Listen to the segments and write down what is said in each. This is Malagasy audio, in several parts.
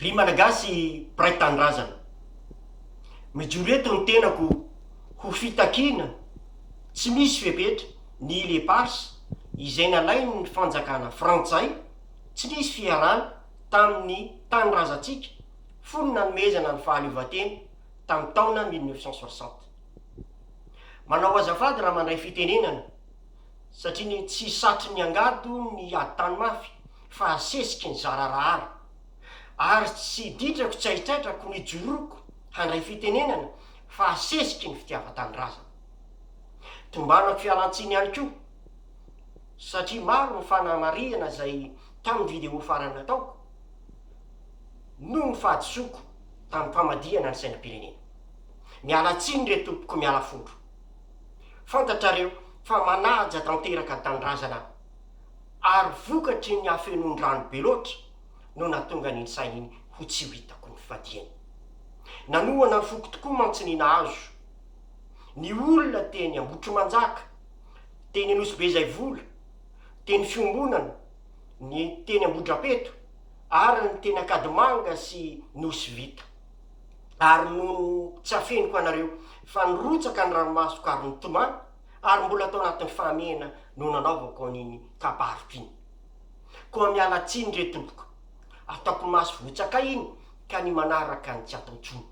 Ry Malagasy mpiray tanindrazana, mijoro eto ny tenako ho fitakiana tsy misy fepetra ny ile parse izay nalain'ny fanjakana frantsay tsy nisy fiharana tamin'ny tanindrazantsika fony nanomezana ny fahaleovantena tamin'ny taona mille neuf cent soixante. Manao azafady raha mandray fitenenana Satria ny tsy satry ny angady ny adin-tany mafy fa asesiky ny zararahara. Ary tsy ditrako tsy haitraitrako ny joroko handray fitenenana fa asesiky ny fitiavan-tanindrazana. Tombanako fialan-tsiny ihany koa satria maro ny fanamarihana izay tamin'ny vidéo farany nataoko noho ny fahadisoako tamin'ny famadihana ny sainam-pirenena. Miala tsiny re tompoko miala fondro. Fantatrareo fa manaja tanteraka tanindrazana ary vokatry ny hafenoan-drano be loatra no nahatonga an'iny saina iny ho tsy ho hitako ny fadiany. Nanohana ny foko tokoa mantsy ny nahazo ny olona teny Ambohitrimanjaka, teny Anosibeizaivola, teny Fiombonana, ny teny Ambohidrapeto ary ny teny Ankadimanga sy Nosy Vita. ary nony tsy afeniko anareo, fa nirotsaka ny ranomasoko ary nitomany, ary mbola tao anatin'ny fahamehana no nanaovako an'iny kabariko iny. Koa miala tsiny re tompoko, ataoko maso votsakay iny ka ny manaraka ny tsy atao tsony,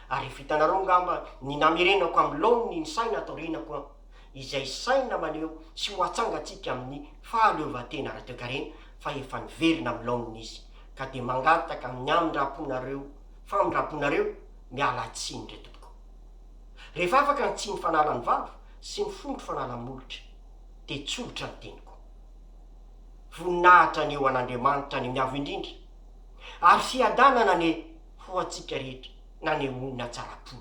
ary hitanareo ngamba ny namerenako amin'ny laoniny ny saina taoriana koa. izay saina maneho tsy ho atsangantsika amin'ny fahaleovantena ara-toekarena fa efa niverina amin'ny laoniny izy, ka dia mangataka amin'ny amindram-ponareo famindram-ponareo miala tsiny ry tompoko. Rehefa afaka ny tsiny fanala ny vava sy ny fondro fanala ny molotra dia tsolotra ny teniko. Voninahitra anie ho an'Andriamanitra any amin'ny avo indrindra, ary fiadanana anie ho antsika rehetra. nanehoana tsara-po.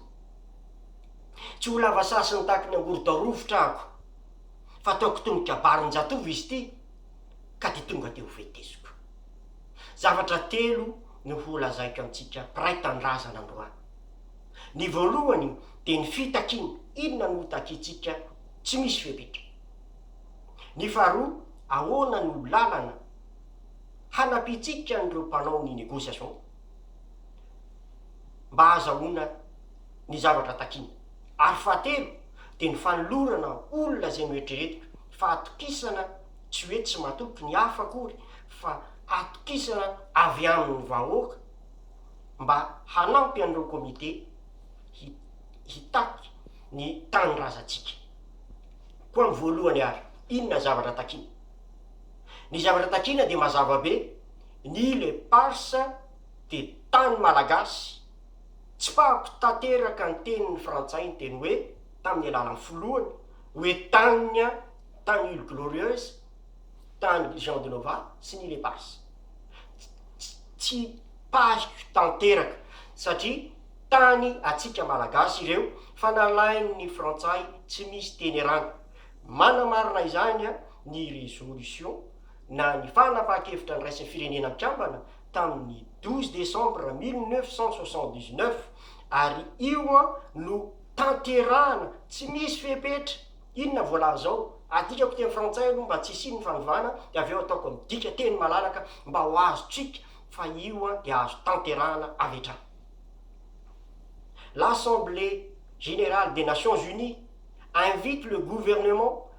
Tsy ho lava saha sy nitaky ny angorodao rovitra aho ko, fa tao Kitonon-kabarin-jatovo izy ity ka dia tonga dia ho veteziko. Zavatra telo no holazaiko antsika mpiray tanindrazana androany. Ny voalohany dia ny fitakiana, inona no hotakiantsika tsy misy fepetra. Ny faharoa, ahoana no lalana hanampiantsika an'ireo mpanao ny négociation. mba hahazahoana ny zavatra takiana. Ary fahatelo dia ny fanolorana olona izay noeritreretina fa atokisana tsy hoe tsy matoky ny hafa akory fa atokisana avy amin'ny vahoaka mba hanampy an'ireo komite hitaky ny tanindrazantsika. Koa amin'ny voalohany ary, inona ny zavatra takiana? Ny zavatra takiana dia mazava be. Ny île éparse dia tany malagasy, tsy fahako tanteraka ny tenin'ny frantsay niteny hoe tamin'ny alalan'ny filohany hoe tanin'ny an, tany îles glorieuses, tany Jean de Nova sy ny île éparse. Tsy tsy pahiko tanteraka satria tany antsika malagasy ireo fa nalain'ny frantsay tsy misy teny erana. Manamarina izany an ny résolution. na ny fanapahan-kevitra niraisin'ny firenena mpikambana tamin'ny douze décembre mille neuf cent soixante dix neuf, ary io no tanterahana tsy misy fepetra, inona voalaza ao? adikako teny frantsay aloha mba tsy hisian'ny fanovana dia avy eo ataoko midika teny malalaka mba ho azontsika fa io dia azo tanterahana avy hatrany. L'Assemblée générale des Nations Unies invite le gouvernement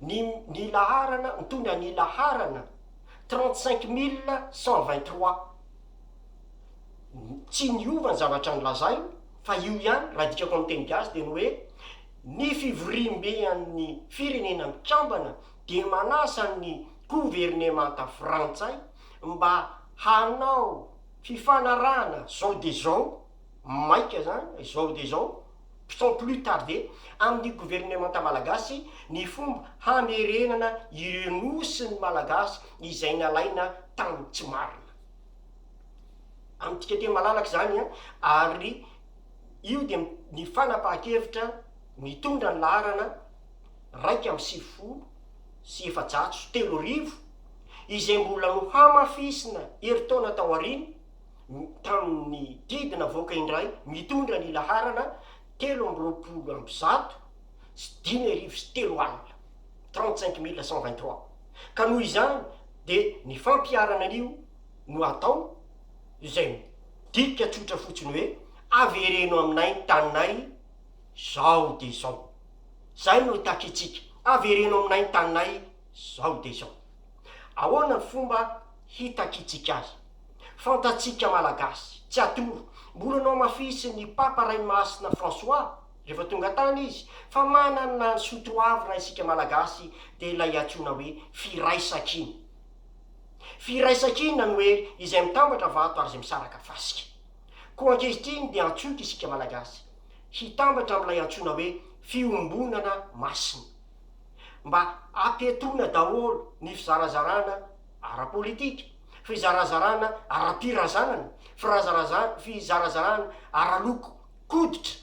ny ny laharana mitondra ny laharana trente cinq mille cent vingt trois. Tsy niova ny zavatra nolazainy fa io ihany, raha adikako amin'ny teny gasy dia ny hoe ny fivoriambe an'ny firenena mikambana dia manasa ny governemanta frantsay mba hanao fifanarahana zao dia zao, maika izany, zao dia zao, Sans plus tarder, amin'ny governemanta malagasy ny fomba hamerenana ireo nosy ny Malagasy izay nalaina tamin'ny tsy marina. Amintsika aty malalaka izany an, ary io dia ny fanapahan-kevitra mitondra ny laharana iraika amby sivifolo sy efajato sy telo arivo izay mbola nohamafisina herintaona taoriana, tamin'ny didy navoaka indray mitondra ny laharana telo amby roapolo amby zato sy dimy arivo sy telo alina, trente-cinq mille cent vingt-trois, ka noho izany dia ny fampiharana an'io no atao izay midika tsotra fotsiny hoe avereno aminay ny taninay izao dia izao. Izay no takitsika, avereno aminay ny taninay izao dia izao. Ahoana ny fomba hitakitsika azy? Fantatsika Malagasy, tsy atoro, mbola nohamafisin'ny Papa Raimasina François, rehefa tonga tany izy, fa manana ny soatoavina isika Malagasy dia ilay antsoina hoe Firaisankina. Firaisankina no hery izay mitambatra vato ary izay misaraka fasika. Koa ankehitriny dia antsoiko isika Malagasy hitambatra amin'ilay antsoina hoe Fiombonana Masina. Mba apetrona daholo ny fizarazarana ara-politika. fizarazarana ara-pirazanana, firazaraza, fizarazarana ara-loko, koditra,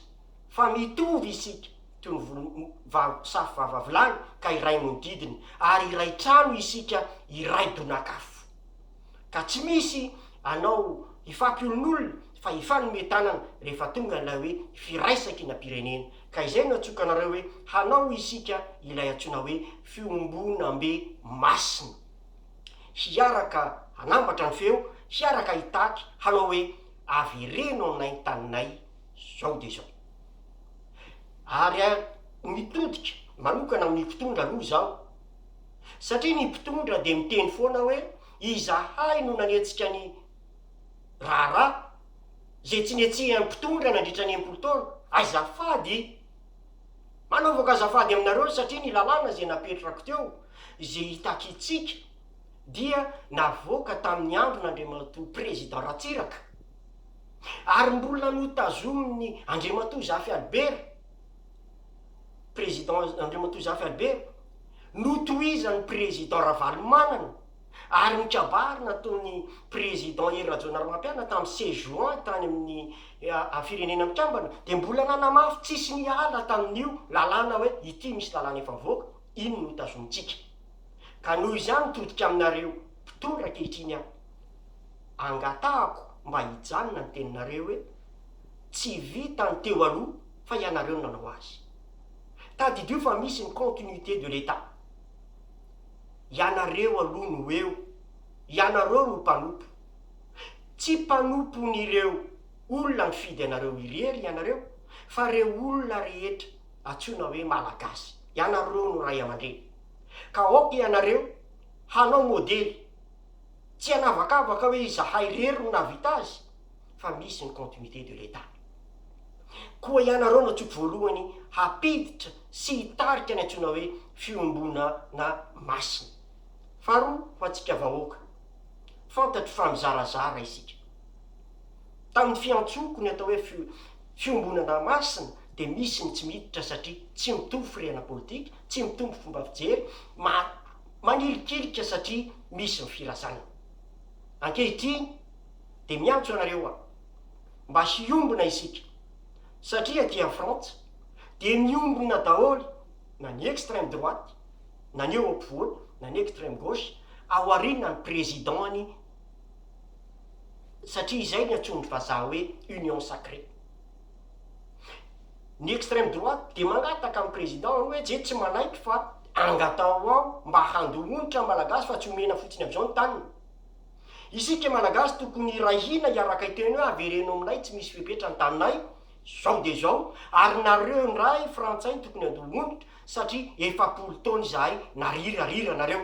fa mitovy isika toy ny volo vava, safo vava vilany ka iray nodidina, ary iray trano isika iray donak'afo. Ka tsy misy anao hifampiolonolona fa hifanome tanana rehefa tonga ilay hoe firaisakinam-pirenena, ka izay no atsokanareo hoe hanao isika ilay antsoina hoe fiombonambe masina. hiaraka hanambatra ny feo, hiaraka hitaky, hanao hoe avereno aminay ny taninay izao dia izao. Ary mitodika manokana amin'ny mpitondra aloha izaho, satria ny mpitondra dia miteny foana hoe izahay no nanetsika ny raharaha izay tsy netsihan'ny mpitondra nandritra ny enimpolo taona, azafady. Manaovako azafady aminareo satria ny lalàna izay napetrako teo, izay itakitsika, dia navoaka tamin'ny andron' Andriamatoa Président Ratsiraka, ary mbola notazomin'ny Andriamatoa Zafy Albert, Président Andriamatoa Zafy Albert, notohizan'ny Président Ravalomanana. ary nikabary nataon'i Président Hery Rajaonarimampianina tamin'ny seize juin tany amin'ny Firenena Mikambana dia mbola nanamafy tsisy niala tamin'io lalàna hoe ity misy lalàna efa mivoaka, iny no tazonintsika. Ka noho izany mitodika aminareo mpitondra ankehitriny aho, angatahako mba hijanona ny teninareo hoe tsy vita ny teo aloha fa ianareo no nanao azy. Tadidio fa misy ny continuité de l'Etat. ianareo aloha no eo, ianareo no mpanompo. Tsy mpanompon'ireo olona nifidy anareo irery ianareo fa ireo olona rehetra antsoina hoe Malagasy, ianareo no ray aman-dreny. Ka aoka ianareo hanao modely, tsy hanavakavaka hoe izahay irery no nahavita azy, fa misy ny continuité de l'Etat. Koa ianareo no tsy voalohany hampiditra sy hitarika ny antsoina hoe fiombonana masina. Faharoa, ho antsika vahoaka, fantatro fa mizarazara isika. Tamin'ny fiantsoako ny atao hoe fiombonana masina dia misy ny tsy miditra satria tsy mitovy firehana politika, tsy mitovy fomba fijery, manilikilika satria misy ny firazanana. Ankehitriny, dia miantso anareo aho mba hiombona isika satria aty en frantsa dia miombona daholo na ny extreme droite na ny eo ampovoany na ny extreme gauche ao aoriana ny président ny satria izay ny antson'ny vazaha hoe union sacrée ny extreme droite dia mangataka ny président ny hoe je tsy manaiky fa angataho aho mba handoa onitra ny malagasy fa tsy omena fotsiny amizao ny taniny Isika malagasy tokony hiray hina hiaraka hiteny hoe avereno aminay tsy misy fepetra ny taninay, zao de zao, ary nareo ndray frantsay tokony andoha onitra satria efapolo taona izahay nariry ariry anareo.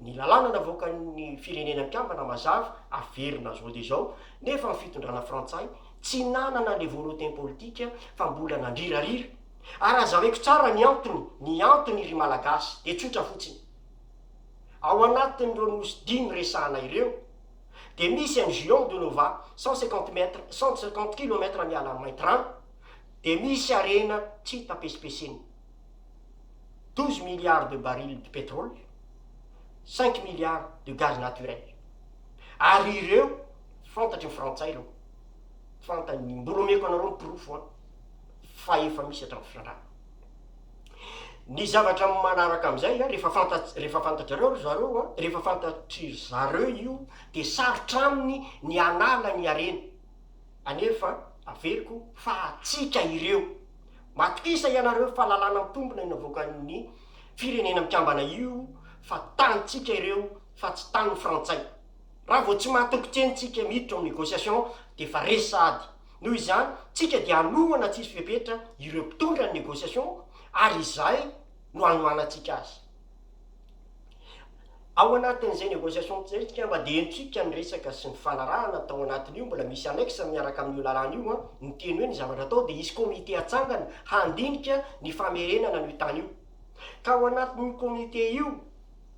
Ny lalàna navoakan'ny firenena mikambana mazava, averina zao de zao, nefa ny fitondrana frantsay tsy nanana le volonten politika fa mbola nandrirarira, ary azavaiko tsara ny antony, ny antony ry malagasy de tsotra fotsiny. Ao anatin'ireo nosy dimy niresahana ireo, dia misy an'i Juan de Nova, cent cinquante mètres, cent cinquante kilomètres miala an'i Maitran, dia misy harena tsy hita pesipesen'ny douze milliards de barils de pétrole, cinq milliards de gaz naturel. Ary ireo fantatry ny Frantsay ireo, fantany, mbola omeko anareo ny porofo an, fa efa misy hatramin'ny fitrandrahana. Ny zavatra manaraka amin'izay a, rehefa fantatr- rehefa fantatrareo ry zareo a, rehefa fantatry zareo io dia sarotra aminy ny hanala ny hareny, anefa averiko fa antsika ireo, matokisa ianareo fa lalàna mitombina no avoakan'ny firenena mikambana io fa tanintsika ireo fa tsy tanin'ny frantsay. Raha vao tsy matoky teny tsika miditra ao amin'ny négociation dia efa resy sahady. Noho izany, tsika dia hanohana tsisy fepetra ireo mpitondra ny négociation ary izay no hanohanantsika azy. Ao anatin'izay négociation izay tsika mba dia henontsika ny resaka sy ny fanarahana tao anatin'io, mbola misy annexe miaraka amin'io lalàna io an, ny teny hoe ny zavatra atao dia hisy comité hatsangana handinika ny famerenana an'io tany io. Ka ao anatin'io comité io,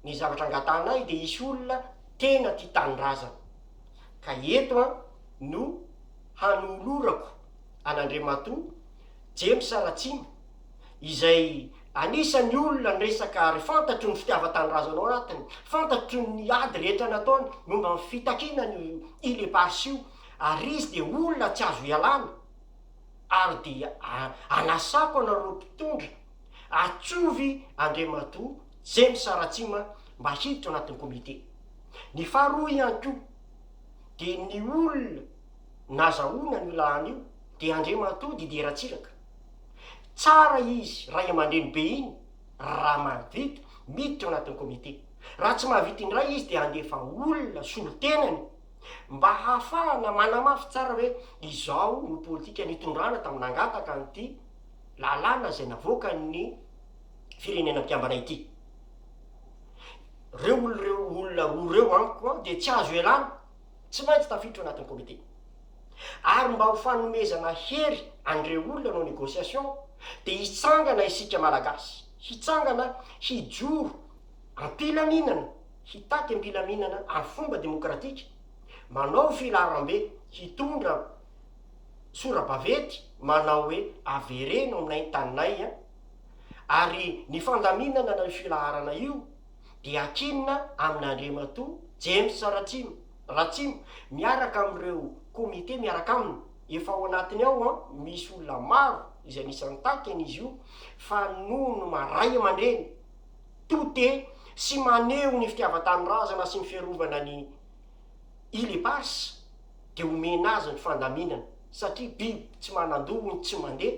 ny zavatra angatahanay dia hisy olona tena tia tanindrazana. Ka eto aho no hanolorako an'Andriamatoa James Ratsima, izay anisan'ny olona niresaka ary fantatro ny fitiavan-tanindrazana ao anatiny, fantatro ny ady rehetra nataony momba ny fitakiana an'io Île Éparses io, ary izy dia olona tsy azo ialana, ary dia anasako anareo mpitondra, atsovy Andriamatoa James Ratsima mba hiditra ao anatin'ny komite. Ny faharoa ihany koa dia ny olona nazahoana an'io lahany io dia Andriamatoa Didier Ratsiraka. Tsara izy ray aman-dreny be iny raha mahavita miditra ao anatin'ny komite. Raha tsy mahavita indray izy dia handefa olona solontenany mba hahafahana manamafy tsara hoe izao no politika nitondrana tamin'ny nangataka an'ity lalàna izay navoakan'ny firenena mpiambana ity. Reo olo reo olona roa reo amiko an dia tsy azo ialana, tsy maintsy tafiditra ao anatin'ny comité. Ary mba ho fanomezana hery an'ireo olona hanao négociation dia hitsangana isika Malagasy, hitsangana hijoro am-pilaminana, hitaky am-pilaminana amin'ny fomba demokratika, manao filaharambe, hitondra sora-baventy manao hoe avereno aminay ny taninay an, ary ny fandaminana io filaharana io dia akinina amin' Andriamatoa James Ratsimo Ratsimo miaraka amin' ireo komite miaraka aminy, efa ao anatiny ao an, misy olona maro izay anisan' ny takin' izy io fa nono ma ray aman-dreny to te sy maneho ny fitiavan-tanindrazana sy ny fiarovana ny Ile Eparses dia omena azy ny fandaminana satria biby tsy manan-doha hono tsy mandeha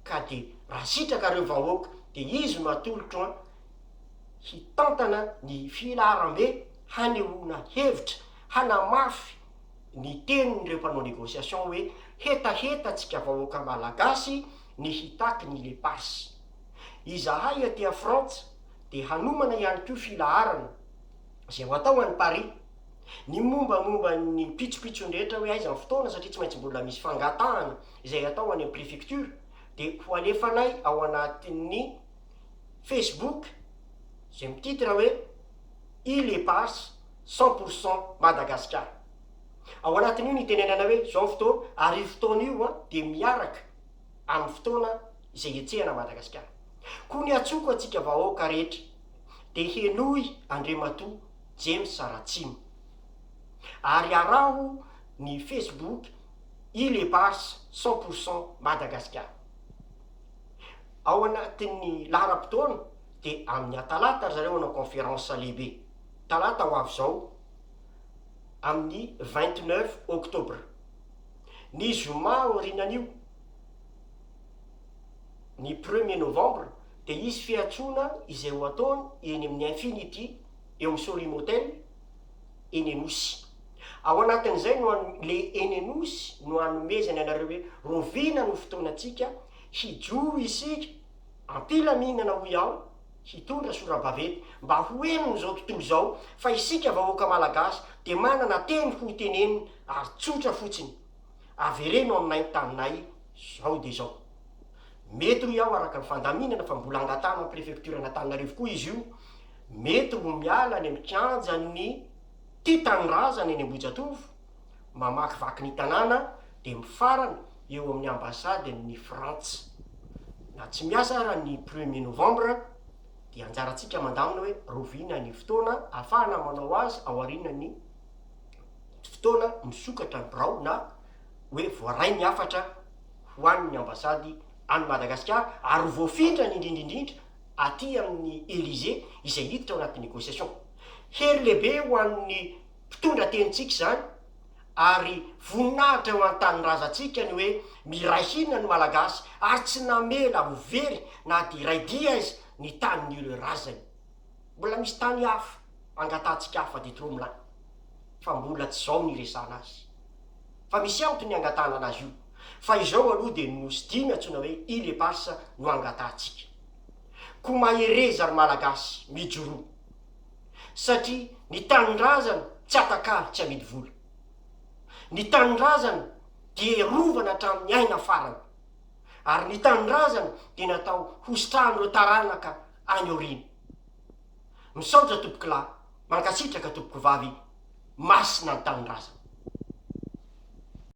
ka de raha sitraka reo vahoaka de izy no atolotro an hitantana ny filaharambe hanehoana hevitra hanamafy ny tenin reo mpanao negociation hoe hetaheta tsika vahoaka malagasy ny hitaky ny le passe izahay aty a frantsa de hanomana ihany ko filaharana zay ho atao any paris ny momba momba ny pitsopitsony rehetra hoe aiza ny fotoana satria tsy maintsy mbola misy fangatahana izay atao any amin'ny prefecture dia ho alefanay ao anatin'ny Facebook izay mititre hoe Île Eparses cent pour cent Madagascar. Ao anatin'io ny itenenana hoe izao ny fotoana ary io fotoana io an dia miaraka amin'ny fotoana izay hetsehana an'i Madagasikara. Koa ny hatsoko antsika vahoaka rehetra dia henoy Andriamatoa James Ratsima ary araho ny Facebook Îles Éparses cent pour cent Madagascar. Ao anatin'ny laharam-potoana dia amin'ny atalata ry zareo hanao conférence lehibe, talata ho avy izao amin'ny vingt neuf octobre. Ny zoma aorianan'io, ny premier novembre, dia hisy fiantsoana izay ho ataony eny amin'ny Infinity eo Sorimoten, eny Anosy. Ao anatin'izay no an, le eny Anosy no anomezany anareo hoe rovina no fotoanantsika, hijoro isika am-pilaminana hoy aho, hitondra sora-baventy mba ho henony izao tontolo izao fa isika vahoaka Malagasy dia manana teny ho tenenina ary tsotra fotsiny, avereno aminay ny taninay izao dia izao. Mety hoy aho araka ny fandaminana fa mbola angatahana ny prefektioran'Antananarivo koa izy io, Mety ho miala any amin'ny kianjan'ny Tia Tanindrazana eny Ambohijatovo, mamakivaky ny tanàna dia mifarana eo amin'ny Ambasadin'ny Frantsa. Na tsy miasa ara ny premier novembre dia anjarantsika mandamina hoe rahoviana ny fotoana ahafahana manao azy aorianan'ny fotoana misokatra ny birao na hoe voaray ny hafatra ho an'ny Ambasady any Madagasikara ary ho voafindrany indrindra indrindra aty amin'ny Elysée izay hiditra ao anaty négociation. Hery lehibe ho an'ny mpitondra tenintsika izany ary voninahitra ho an'ny tanindrazantsika ny hoe miray hina ny Malagasy ary tsy namela ho very na dia iray dia aiza ny tanin'ireo razany. Mbola misy tany hafa angatahantsika hafa dia trop mlà fa mbola tsy izao no hiresahana azy fa misy antony ny angatahana anazy io. fa izao aloha dia ny Nosy Dimy antsoina hoe Ile Eparsa no angatahantsika. Koa mahereza ry Malagasy, mijoroa. Satria ny tanindrazana tsy atakalo tsy amidy vola. Ny tanindrazana dia herovana hatramin'ny aina farany. Ary ny tanindrazana dia natao hositrahan'ireo taranaka any aoriana. Misaotra tompokolahy, mankasitraka tompokovavy, masina ny tanindrazana.